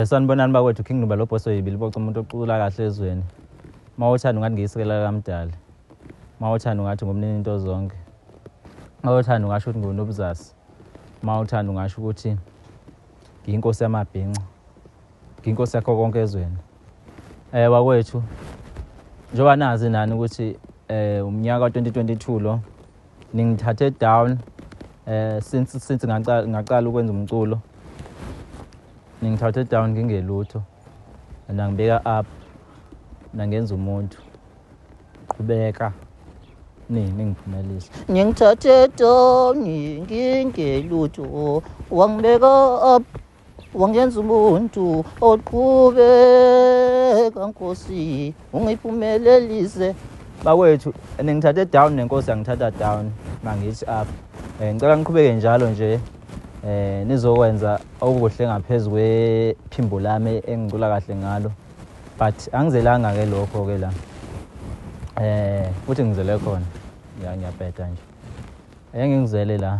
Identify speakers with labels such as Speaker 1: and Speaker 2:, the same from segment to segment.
Speaker 1: Sanibonani bakwethu King Nuba lo boss oyibili boca umuntu ocula kahle ezweni. Mawuthanda ungathi ngiyisekela kamdali. Mawuthanda ungathi ngomnini into zonke. Mawuthanda ungasho ukuthi ngunobuzasi. Mawuthanda ungasho ukuthi ngiyinkosi yamabhinca. Ngiyinkosi yakho konke ezweni. Eh wakwethu njoba nazi nani ukuthi eh umnyaka 2022 lo ningithathe down eh since since ngaqala ngaqala ukwenza umculo ningithathe down ngingelutho nangibeka up nangenza umuntu qhubeka nini ningiphumelisa ngingithathe
Speaker 2: down ngingelutho wangibeka up wangenza umuntu oqhubeka nkosi ungiphumelelise bakwethu
Speaker 1: ningithathe down nenkosi yangithatha down mangithi up um ngicela ngiqhubeke njalo nje um nizokwenza okuhle ngaphezu kwephimbo lami engicula kahle ngalo but angizelanga-ke lokho-ke la um futhi ngizele khona ya ngiyabheda nje engingizele la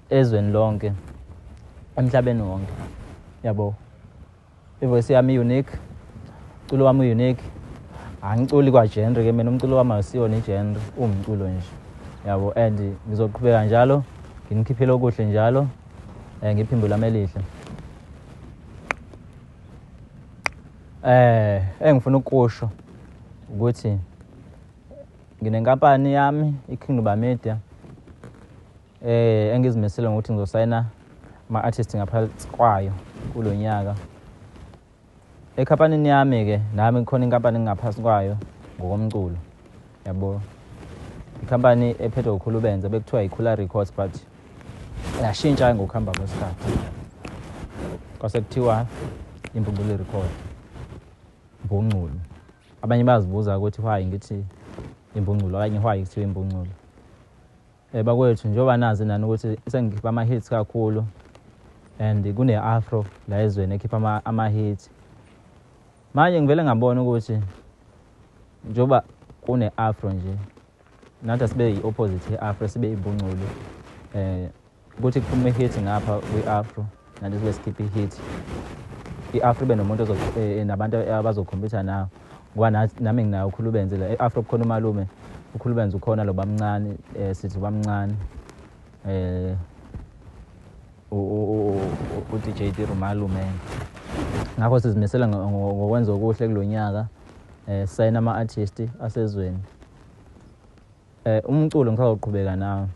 Speaker 1: ezweni lonke emhlabeni wonke yabo ivoice yami unique umculo wami unique angiculi kwa genre ke mina umculo wami awusiyona igenre uwumculo nje yabo and ngizoqhubeka njalo nginikhiphele okuhle njalo eh ngiphimbo lami elihle eh engifuna ukusho ukuthi nginenkampani yami iKingdom Media Eh engizimisele ngokuthi ngizosayina ama artist ngaphansi kwayo kulonyaka. Ekhampanini yami ke nami ngikhona inkampani ngingaphansi kwayo ngokomculo. Yabo. Ikhampani ephethwe ukhulubenze bekuthiwa ikhula records but yashintsha ngokuhamba kwesikhathi. Kwase kuthiwa impumpuli record. Mbungculo. Abanye bazibuza ukuthi why ngithi impunculu okanye why kuthiwa impunculu Eh bakwethu njengoba nazi nani ukuthi sengikhipha ama hits kakhulu and kune afro la ezweni ekhipha ama, ama hits. Manje ngivele ngabona ukuthi njengoba kune afro nje nathi sibe yi opposite ye afro sibe ibungculu eh ukuthi kuphume hit ngapha kwi afro Nani kule skip hit. I-Afro ibe nomuntu eh, eh, nabantu abazokhompyutha nawo ngoba nami nginayo ukhulubenzi la e-afro kukhona umalume ukhulubenzi ukhona lo bamncane um sithi ubamncane um u-dj dir umalume ngakho sizimisela ngokwenza okuhle kulo nyaka um sayina ama-artisti asezweni um umculo ngisazawuqhubeka nawo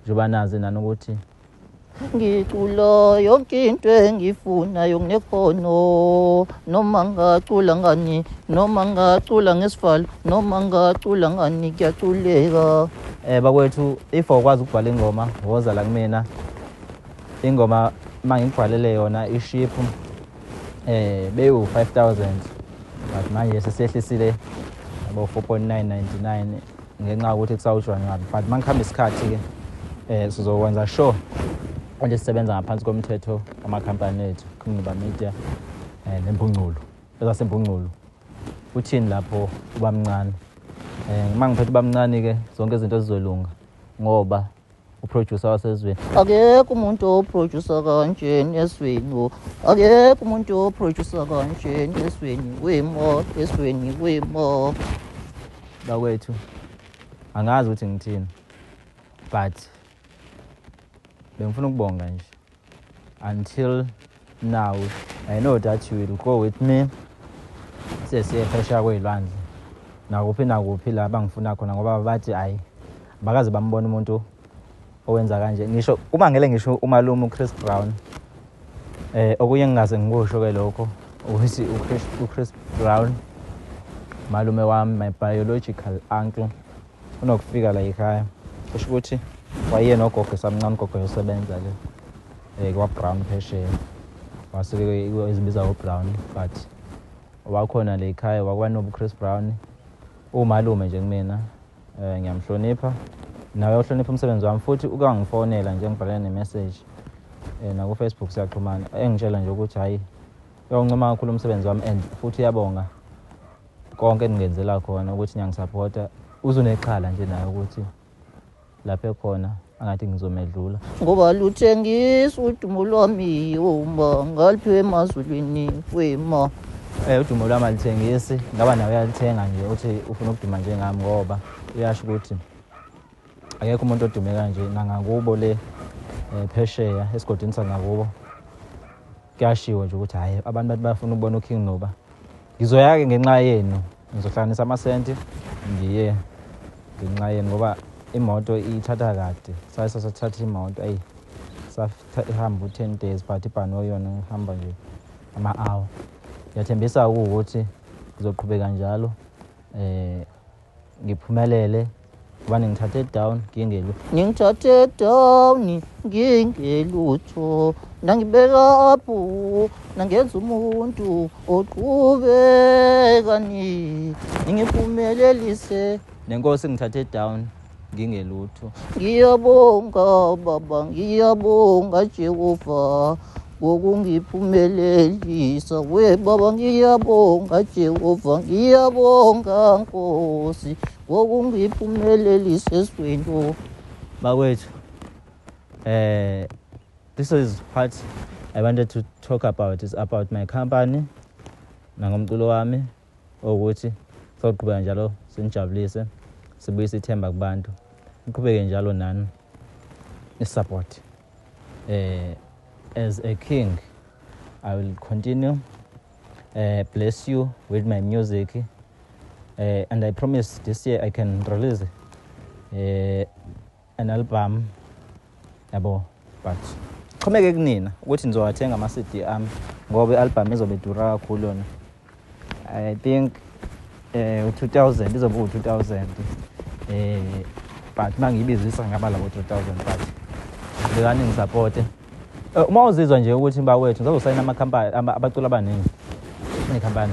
Speaker 1: njengoba nazi nani ukuthi ngicula
Speaker 2: yonke into engifunayo nginekhono noma ngacula ngani noma ngacula ngesivalo noma ngacula ngani kuyaculeka um eh, bakwethu
Speaker 1: if awukwazi ukubhala ingoma woza la kumina ingoma uma ngikubhalele yona iship um eh, bewu-five thousand but manje sesehlisile abo-four point nine ninety nine ngenxa yokuthi kusawushwa nqabi but uma ngihamba isikhathi-ke um sizokwenza sure ukuthi sisebenza ngaphansi komthetho wamakhampani ethu kungcuba media um eh, nempungculo ezasempungculo uthini lapho ubamncane um eh, uma ngiphethe ubamncane-ke zonke izinto zizolunga ngoba uproducer wasezweni akekho umuntu
Speaker 2: oproducer kanjeni esweni akekho umuntu oproducer kanjeni esweni kwimo esweni kwimo
Speaker 1: bakwethu angazi ukuthi ngithini but bengifuna ukubonga nje until now i know that you will go with me sesiye phesheya kwey'lwandle nakuphi nakuphi la bangifuna khona ngoba bathi hhayi bakaze bambona umuntu owenza kanje ngisho uma ngele ngisho umalume uchris brown eh okunye ngingaze ngikusho ke lokho ukuthi uchris brown malume wami my biological uncle unokufika la yikhaya kusho ukuthi wayiye nogogo esamncane ugogo yosebenza le um eh, kwabrown phesheya wasuke izibiza ubrown but wakhona le yikhaya wakuba nobuchris brown umalume nje kumina um ngiyamhlonipha nawe uhlonipha umsebenzi wami futhi uke wangifonela nje ngibhalele nemeseji um eh, nakufacebook siyaxhumana engitshela nje ukuthi hhayi yawuncoma kakhulu umsebenzi wami and futhi uyabonga konke engingenzela khona ukuthi ngiyangisaphotha uzunexhala nje naye ukuthi lapho ekhona angathi ngizomedlula ngoba
Speaker 2: luthengisa udumo lwami uma ngaliphiwe emazulwini kwema um eh, udumo lwami
Speaker 1: alithengisi ngaba nawe uyalithenga nje uthi ufuna ukuduma njengami ngoba uyasho ukuthi Akekho umuntu odume kanje nangakubo le eh, phesheya esigodini sangakubo. Kuyashiwo nje ukuthi hayi abantu bathi bafuna ukubona uKing Nuba. Ngizoya ke ngenxa yenu. Ngizohlanganisa amasenti ngiye ngenxa yenu ngoba imoto ithatha kade. Saye sasathatha imoto ayi sahamba u-10 days but ibhano yona ngihamba nje ama-hour ngiyathembisa-ke ukuthi ngizoqhubeka njalo um ngiphumelele ubani ngithathe down ngingelu ngithathe down ngingelutho nangibeka up nangenza umuntu oqhubekani ngingiphumelelise nenkosi ngithathe down ngingelutho ngiyabonga baba ngiyabonga jehova ngokungiphumelelisa we baba ngiyabonga jehova ngiyabonga nkosi ngokungiphumelelisa eswento bakwethu eh this is part i wanted to talk about is about my company nangomculo wami Ukuthi soqhubeka njalo sinijabulise sibuyise ithemba kubantu. Iqhubeke njalo nani isupport. Eh as a king I will continue uh, bless you with my music uh, and I promise this year I can release uh, an album yabo but xhomeke kunina ukuthi nizowathenga ama-cd ami ngoba i-albhamu izobe idura kakhulu yona i think eh, um u-two thousand izobe uwu-two thousand um but uma ngiyibizisa ngaba labo three thousand but bekani ngisapote eh, uma uzizwa nje ukuthi mba wethu ngizazosayina amakhampani abaculi abaningi nekhampani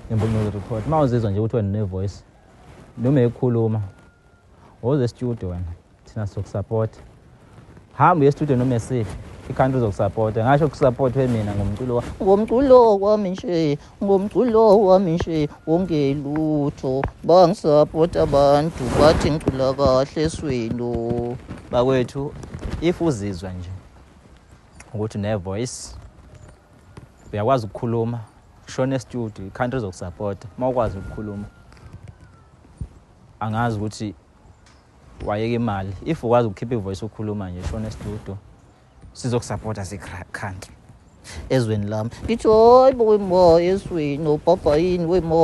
Speaker 1: nembunyuzo record uma uzizwa nje ukuthi wena unevoice noma ekhuluma Woza estudio wena. Thina sizokusapota. Hamba uye estudio noma esiphi. Ikhanda uzokusapota. Ngasho ukusapotwe mina ngomculo wa. Ngomculo wami nje, ngomculo wami nje wonke lutho. Bangisapota abantu bathi ngicula kahle eswelo. Bakwethu if uzizwa nje ukuthi ne voice uyakwazi ukukhuluma shona estudio ikhanda uzokusapota uma ukwazi ukukhuluma Angazi ukuthi wayeka imali. If ukwazi ukukhipha ivoice ukhuluma nje shona estudio. Sizokusupporta sikhanke. Ezweni lami. Ngithi hoy boy mo eswini ubhobha yini we mo.